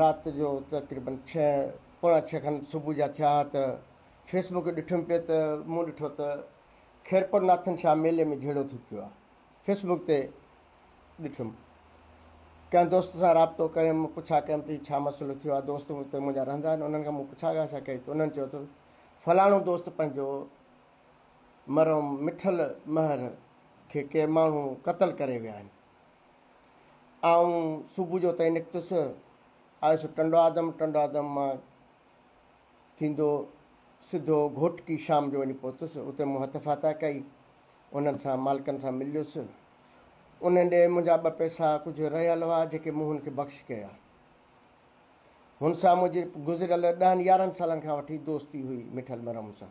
رات جو تقريباً ڇهه پوڻا ڇهه کن صبح جا ٿيا ها ته فيس بڪ ڏٺم پئي ته مون ڏٺو ته خيرپور ناٿن شاهه ميلي ۾ جهيڙو ٿي پيو آهي فيس بڪ تي ڏٺم ڪنهن دوست سان رابطو ڪيم پڇا ڪيم ته ڇا مسئلو ٿيو آهي دوست اتي منهنجا رهندا آهن انهن کان مون پڇا ڳاڇا ڪئي ته انهن چيو ته فلاڻو دوست پنهنجو مرحوم مٺل مهر کي ڪي ماڻهو قتل ڪري ويا آهن آئون صبح جو اتان نڪتس، آيس ٽنڊو آدم، ٽنڊو آدم مان ٿيندو سڌو گهوٽڪي، شام جو وڃي پهتس، اتي مون هٿ ڦاتا ڪئي، انهن سان مالڪن سان مليس، انهن ڏي منهنجا ٻه پئسا ڪجهه رهيل هئا، جيڪي مون هن کي بخش ڪيا. هن سان منهنجي گذريل ڏهن يارهن سالن کان وٺي دوستي هئي، مٺل مرحم سان.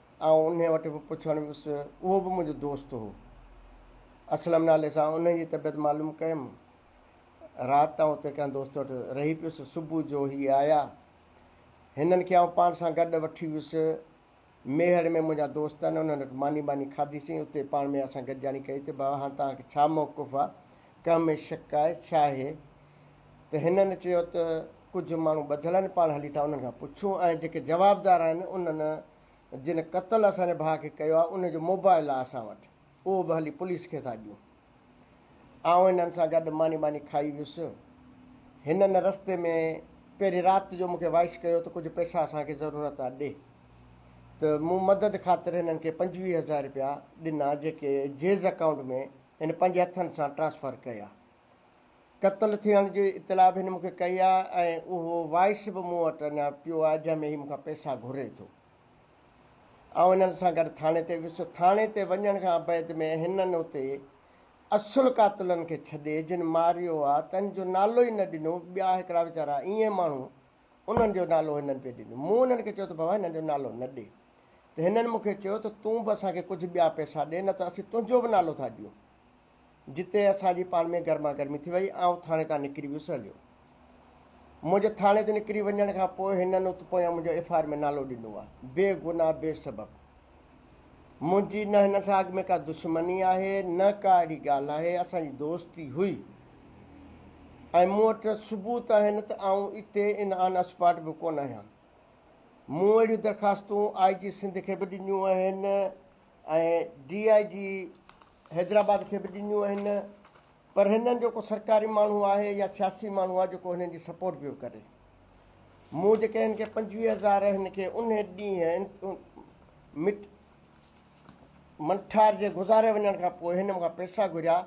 آئون انهيء وٽ به پڇڻ ويس، اهو به منهنجو دوست هو. اسلم نالي سان انهيء جي طبيعت معلوم ڪيم. رات آئون اتي ڪنهن دوست وٽ رهي پيس، صبح جو هي آيا. هنن کي آئون پاڻ سان گڏ وٺي ويس. ميهڙ ۾ منهنجا دوست آهن، انهن وٽ ماني ٻاني کاڌيسين. اتي پاڻ ۾ اسان گڏجاڻي ڪئي ته، بابا هاڻ توهان کي ڇا موقف آ؟ ڪنهن ۾ شڪ آهي؟ ڇا هي؟ ته هنن چيو ته ڪجهه ماڻهو ٻڌل آهن پاڻ هلي ٿا انهن کان پڇون ۽ جيڪي جوابدار آهن انهن جن قتل اسان جي ڀاء کي ڪيو آهي انهن جو موبائل آهي اسان وٽ اهو به هلي پوليس کي ٿا ڏيون آئون هنن سان گڏ ماني ٻاني کائي ويس هنن رستي ۾ پهرين رات جو مونکي وائس ڪيو ته ڪجهه پئسا اسان کي ضرورت آهي ڏي ته مون مدد خاطر هنن کي پنجويهه هزار رپيا ڏنا جيڪي جيز اڪائونٽ ۾ هن پنهنجي هٿن سان ٽرانسفر ڪيا قتل ٿيڻ جي اطلاع به هن مون کي ڪئي آهي ۽ اهو وائس به مون وٽ اڃا پيو آهي جنهن ۾ هي مون کان پئسا گهري ٿو. آئون هنن سان گڏ ٿاڻي تي ويس. ٿاڻي تي وڃڻ کان بعد ۾ هنن اتي اصل قاتلن کي ڇڏي جن ماريو آهي تن جو نالو ئي نه ڏنو. ٻيا هڪڙا ويچارا ايئن ماڻهو انهن جو نالو هنن پئي ڏنو. مون هنن کي چيو ته بابا هنن جو نالو نه ڏي ته هنن مون کي چيو ته تون به اسان کي ڪجهه ٻيا پئسا ڏي نه ته اسين تنهنجو به نالو ٿا ڏيون. جتي اسان جي پاڻ ۾ گرما گرمي ٿي وئي. آئون ٿاڻي تان نڪري ويس هليو. منهنجي ٿاڻي تي نڪري وڃڻ کان پوء هنن ات پويان منهنجو ايف آء آر ۾ نالو ڏنو آ. بي گناهه بي سبب. منهنجي نه هنن سان اڳ ۾ ڪا دشمني آهي نه ڪا اهڙي ڳالهه آهي. اسان جي دوستي هئي ۽ مون وٽ ثبوت آهن ته آئون اتي ان آن اسپاٽ به ڪونه آهيان. مون اهڙيون درخواستون آء جي سنڌ کي به ڏنيون آهن. ۽ ڊي آء جي حيدرآباد کي به ڏنيون آهن پر هنن جو ڪو سرڪاري ماڻهو آهي يا سياسي ماڻهو آهي جيڪو هنن جي سپورٽ پيو ڪري مون جيڪي هن کي پنجويهه هزار هن کي ان ڏينهن مٽ منٺار جي گذاري وڃڻ کان پوء هن مونکان پئسا گهريا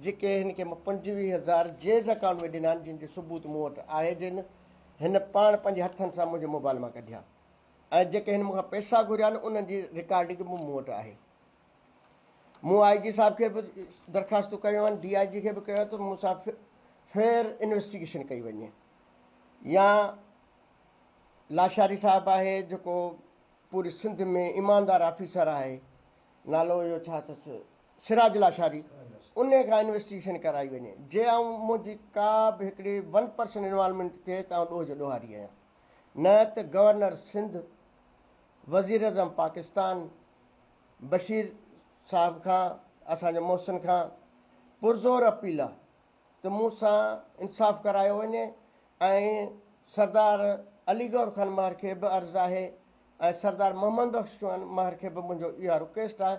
جيڪي هن کي مون پنجويهه هزار جيز اڪاؤنٽ ۾ ڏنا جن جو ثبوت مون وٽ آهي جن هن پاڻ پنهنجي هٿن سان منهنجي موبائل مان ڪڍيا ۽ جيڪي هن مون کان پئسا گهريا آهن انهن جي رڪارڊنگ به مون وٽ آهي. مون آء جي صاحب کي به درخواستون ڪيون آهن، ڊي آء جي کي به ڪيون آهن ته مون سان فيئر انويسٽيگيشن ڪئي وڃي يا لاشاري صاحب آهي جيڪو پوري سنڌ ۾ ايماندار آفيسر آهي نالو اهو ڇا اٿس سراج لاشاري ان کان انويسٽيگيشن ڪرائي وڃي جي آئون منهنجي ڪا به هڪڙي ون پرسن انوالومينٽ ٿئي ته آئون ڏوهه جو ڏوهاري آهيان. نه ته گورنر سنڌ وزيراعظم پاڪستان بشير صاحب کان اسان جي محسن کان پرزور اپيل آ ته مون سان انصاف ڪرايو وڃي ۽ سردار علي گور خان مهر کي به عرض آهي ۽ سردار محمد بخش خان مهر کي به منهنجو اها رڪويسٽ آ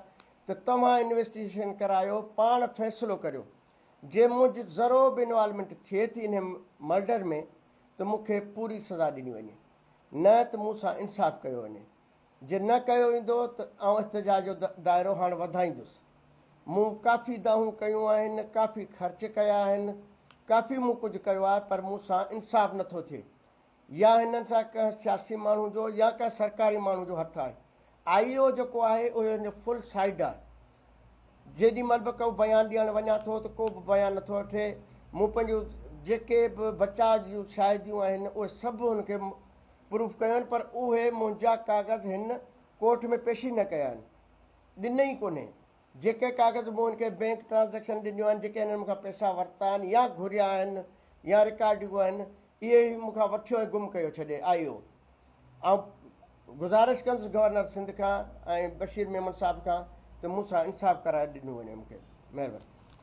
ته توهان انويسٽيگيشن ڪرايو پاڻ فيصلو ڪريو جي منهنجي ذرو به انوالومينٽ ٿئي ٿي انهي مرڊر ۾ ته مون کي پوري سزا ڏني وڃي نه ته مون سان انصاف ڪيو وڃي جي نه ڪيو ويندو ته آئون احتجاج جو دائرو هاڻ وڌائيندس مون ڪافي دانهون ڪيون آهن ڪافي خرچ ڪيا آهن ڪافي مون ڪجهه ڪيو آهي پر مون سان انصاف نٿو ٿئي يا هنن سان ڪنهن سياسي ماڻهو جو يا ڪنهن سرڪاري ماڻهو جو هٿ آهي آئي او جيڪو آهي اهو هن جو فل سائيڊ آهي جيڏي مھل به ڪو بيان ڏيڻ وڃان ٿو ته ڪو به بيان نٿو اٿي. مون پنھنجيون جيڪي به بچاء جون شاھديون آھن اھي سڀ ھن کي پروف ڪيون آھن پر اھي منھنجا ڪاغذ ھن ڪورٽ ۾ پيش ئي نه ڪيا آھن. ڏنئي ئي ڪونھي. جيڪي ڪاغذ مون ھن کي بينڪ ٽرانزيڪشن ڏنيون آھن جيڪي ھنن مون کان پئسا ورتا آھن يا گھريا آھن يا رڪارڊيون آھن اهي ئي مون کان وٺيو ۽ گم ڪيو ڇڏي آيو. آئون گذارش ڪندس گورنر سنڌ کان ۽ بشير ميمڻ صاحب کان ته مون سان انصاف ڪرائي ڏنو وڃي مون کي. مهرباني.